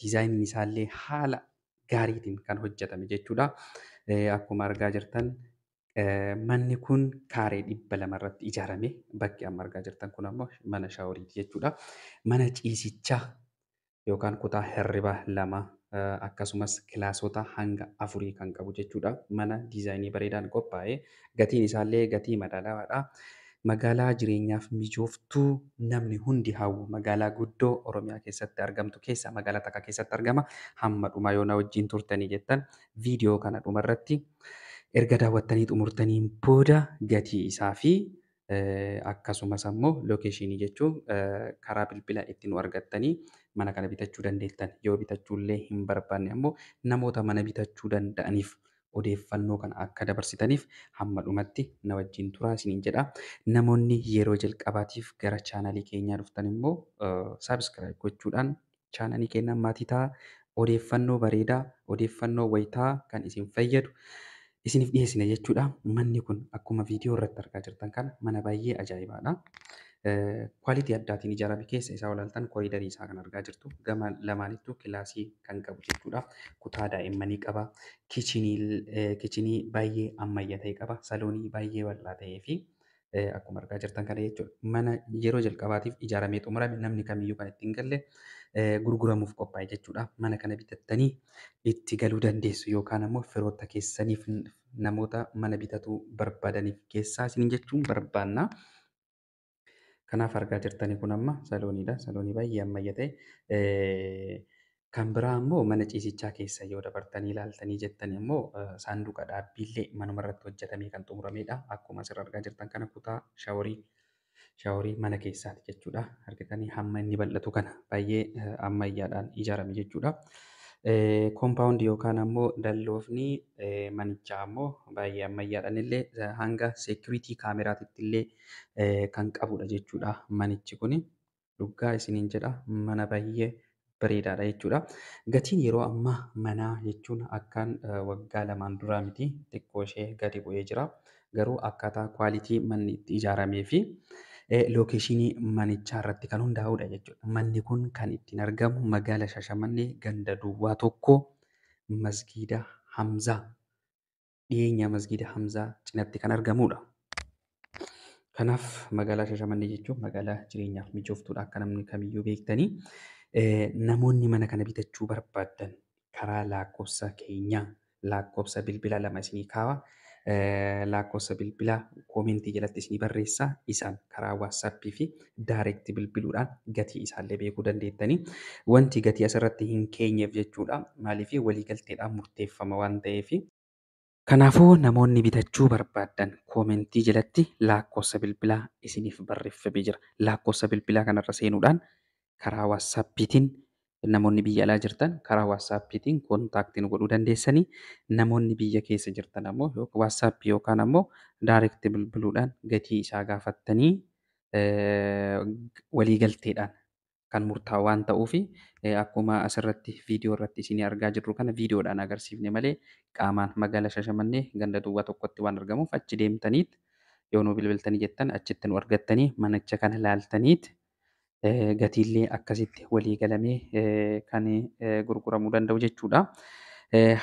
diizaayiniin isaallee haala gaariitiin kan hojjetame jechuudha. Akkuma argaa jirtan manni kun kaaree dhibba lama irratti ijaarame. Bakki amma argaa jirtan kun ammoo mana shaaworiiti jechuudha. Mana ciisichaa yookaan kutaa hirribaa lama akkasumas kilaasota hanga afurii kan qabu jechuudha. Mana diizaayinii bareedaan qophaa'e. Gatiin isaallee gatii madaalawaadha. Magaalaa jireenyaaf mijooftu namni hundi hawwu. Magaalaa guddoo Oromiyaa keessatti argamtu keessaa magaalaa takka keessatti argama. Hamma dhumaa yoo na wajjin turtanii jettan viidiyoo kana dhumarratti erga daawwattanii xumurtaniin booda gatii isaa fi akkasumas ammoo location jechuun karaa bilbila itti nu argattanii mana kana bitachuu dandeettan yoo bitachuu illee hin barbaanne ammoo namoota mana bitachuu danda'aniif odeeffannoo kana akka dabarsitaniif hamma dhumatti na wajjin turaa isiniin jedha namoonni yeroo jalqabaatiif gara chaanalii keenyaa dhuftan immoo saabskraayib gochuudhaan chaanalii keenyaan maatii ta'a. Odeeffannoo bareedaa, odeeffannoo wayitaa kan isin fayyadu isiniif dhiyeessina jechuudha. Manni kun akkuma viidiyoo irratti argaa jirtan kana mana baay'ee ajaa'ibaadha. Kwaalitii addaatiin ijaarame keessa isaa olaaltan koriidarii isaa kan argaa jirtu gama lamaanittuu kilaasii kan qabu jechuudha. Kutaa daa'immanii qaba. Kichinii baay'ee ammayyaa ta'e qaba. Saloonii baay'ee bal'aa ta'ee fi akkuma argaa jirtan kana jechuudha. Mana yeroo jalqabaatiif ijaaramee xumurame namni kamiyyuu kan ittiin galle gurguramuuf qophaa'e jechuudha. Mana kana bitattanii itti galuu dandeessu yookaan ammoo firoota keessaniif namoota mana bitatuu barbaadaniif keessaa isin jechuun barbaanna. Kanaaf argaa jirtanii kun amma salooniidha. Saloonii baay'ee ammayya ta'e Kan biraa ammoo mana ciisichaa keessa yoo dabartanii ilaaltanii jettani ammoo saanduqa dhaabbiillee manuma irratti hojjetamee kan xumurameedha. Akkuma asirra argaa jirtan kana kutaa shaworii shaworii mana keessaati jechuudha. Argitanii hamma inni bal'atu kana baay'ee ammayyaadhaan ijaarame jechuudha. Kompaawundi yookaan ammoo dalloofni manichaa ammoo baay'ee ammayyaadhaan illee hanga seekuriitii kaameraatitti illee kan qabudha jechuudha manichi kuni. dhuggaa isiniin jedha mana bayyee bareedaadha jechuudha. Gatiin yeroo ammaa manaa jechuun akkaan waggaa lamaan duraa miti xiqqoo ishee gadi bu'ee jira. Garuu akkaataa kwaalitii manni itti ijaaramee fi lookeeshinii manichaa irratti kan hundaa'udha jechuudha. Manni kun kan ittiin argamu magaala Shashamannee ganda duwwaa tokko masgiida Hamzaa dhiyeenya masgiida Hamzaa cinatti kan argamuudha. Kanaaf magaalaa Shashamannee jechuun magaalaa jireenyaaf mijooftuudha akka namni kamiyyuu beektanii. Namoonni mana kana bitachuu barbaaddan karaa lakkoofsa keenyaa lakkoofsa bilbila lama isinii kaawa. Lakkoofsa bilbila koomentii jalatti isinii barreessa isaan karaa waatsaappii fi direct bilbiluudhaan gatii isaallee beekuu dandeettanii. Wanti gatii asirratti hin keenyeef jechuudha. Maaliif waliigalteedhaan murteeffama waan ta'eef. Kanaafuu namoonni bitachuu barbaaddan koomentii jalatti laakkoossa bilbilaa isiniif barreffamee jira. Laakkoossa bilbilaa kanarra seenuudhaan karaa waatsaappiitiin Namoonni biyya alaa jirtan karaa waatsaappiitiin kontaaktii nu godhuu dandeessanii. Namoonni biyya keessa jirtan ammoo yoo waatsaappii yookaan ammoo direct bilbiluudhaan gatii isaa gaafattanii eh, waliigalteedhaan kan murtaa'u waan ta'uuf eh, akkuma asirratti viidiyoo irratti isinii argaa jirru kana viidiyoodhaan agarsiifne malee qaamaan magaala Shashamannee ganda duwwaa tokkotti waan argamuuf achi deemtaniit yoo nu bilbiltanii jettan achitti nu argattanii manicha kana laaltaniit gatiillee akkasitti walii galamee kan gurguramuu danda'u jechuudha.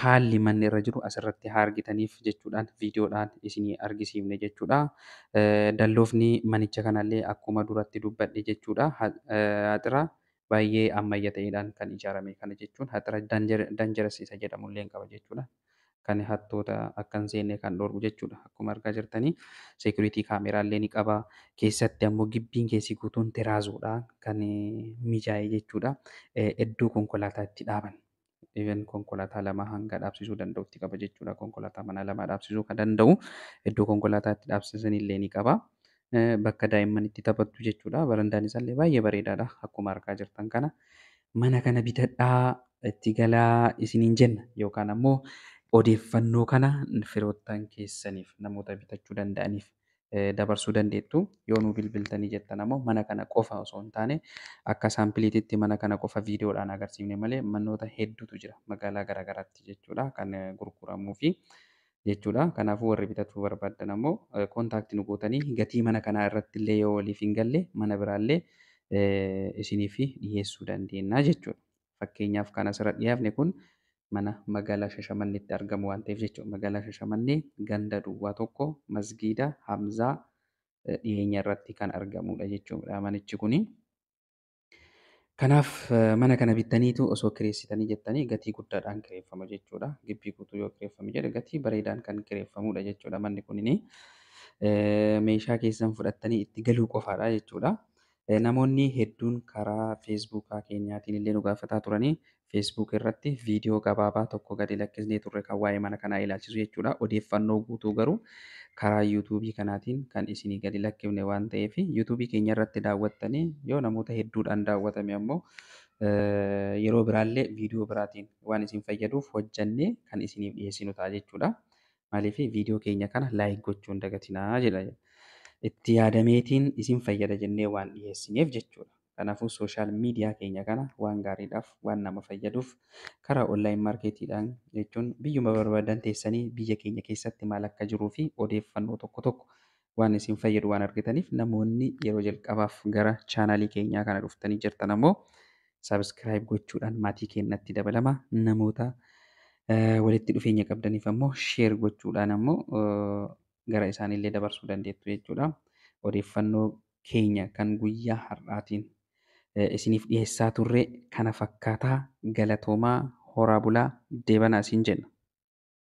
Haalli manni irra jiru asirratti haa argitaniif jechuudhaan viidiyoodhaan isinii argisiifne jechuudha. Dalloofni manicha kanallee akkuma duratti dubbadhe jechuudha. Haxira baay'ee ammayya ta'eedhaan kan ijaarame kana jechuun haxira danjaras isa jedhamullee qaba jechuudha. kan hattoota akka hin seenne kan dhoorgu jechuudha. Akkuma argaa jirtanii security camera illee ni qaba. Keessatti ammoo gibbiin keessi guutuun teraazoodha kan mijaa'e jechuudha. Iddoo konkolaataa itti dhaaban. Even konkolaataa lama hanga dhaabsisuu danda'utti qaba jechuudha. Konkolaataa manaa lama dhaabsisuu kan danda'u iddoo konkolaataa itti dhaabsisan illee ni qaba. bakka daa'imman itti taphattu jechuudha. Barandaan isaallee baay'ee bareedaadha akkuma argaa jirtan kana. Mana kana bitadhaa itti galaa isiniin jenna yookaan ammoo odeeffannoo kana firoottan keessaniif namoota bitachuu danda'aniif dabarsuu dandeettu. Yoo nu bilbiltanii jettan ammoo mana kana qofa osoo hin taane akka saampiliititti mana kana qofa viidiyoodhaan agarsiifne malee manoota hedduutu jira magaalaa garaagaraatti jechuudha kan gurguramuu fi jechuudha. Kanaafuu warri bitachuu barbaaddan ammoo contact nu gootanii gatii mana kanaa irratti illee yoo waliif hin galle mana biraa illee isiniif dhiheessuu dandeenya jechuudha. Fakkeenyaaf kan asirra dhiyaafne kun mana magaalaa Shashamanneetti argamu waan ta'eef jechuudha. Magaalaa Shashamannee ganda duwwaa tokko masgiida Hamzaa dhiyeenya irratti kan argamudha jechuudha manichi kuni. Kanaaf mana kana bittaniitu osoo kireessitanii jettanii gatii guddaadhaan kireeffama jechuudha. Gibbii guutuu yoo kireeffame jedhe gatii bareedaan kan kireeffamudha jechuudha manni kunini. Meeshaa keessan fudhattanii itti galuu qofaadha jechuudha. Namoonni hedduun karaa feesbuukaa keenyaatiin illee nu gaafataa turanii Facebook irratti viidiyoo gabaabaa tokko gadi lakkisnee turre kan waa'ee mana kanaa ilaalchisu jechuudha. Odeeffannoo guutuu garuu karaa YouTube kanaatiin kan isinii gadi lakkifne waan ta'eef YouTube keenya irratti daawwattanii yoo namoota hedduudhaan daawwatame ammoo yeroo biraallee viidiyoo biraatiin waan isin fayyaduuf hojjannee kan isiniif dhiyeessinu ta'a jechuudha. Maaliif viidiyoo keenya kana laayik gochuun dagatinaa jedha. Itti yaadameetiin isin fayyada jennee waan dhiyeessineef jechuudha. Kanaafuu social media keenya kana waan gaariidhaaf waan nama fayyaduuf karaa online market dhaan jechuun biyyuma barbaadan teessanii biyya keenya keessatti maal akka jiruu fi odeeffannoo tokko tokko waan isin fayyadu waan argitaniif namoonni yeroo jalqabaaf gara chaanaalii keenyaa kana dhuftanii jirtan ammoo subscribe gochuudhaan maatii keenyatti dabalama namoota eh, walitti dhufeenya qabdaniif ammoo share gochuudhaan ammoo eh, gara isaaniillee dabarsuu dandeettu jechuudha odeeffannoo keenya kan guyyaa har'aatiin isiniif dhiheessaa turre kana fakkaataa galatoomaa horaa bulaa deebanaa isiin jenna.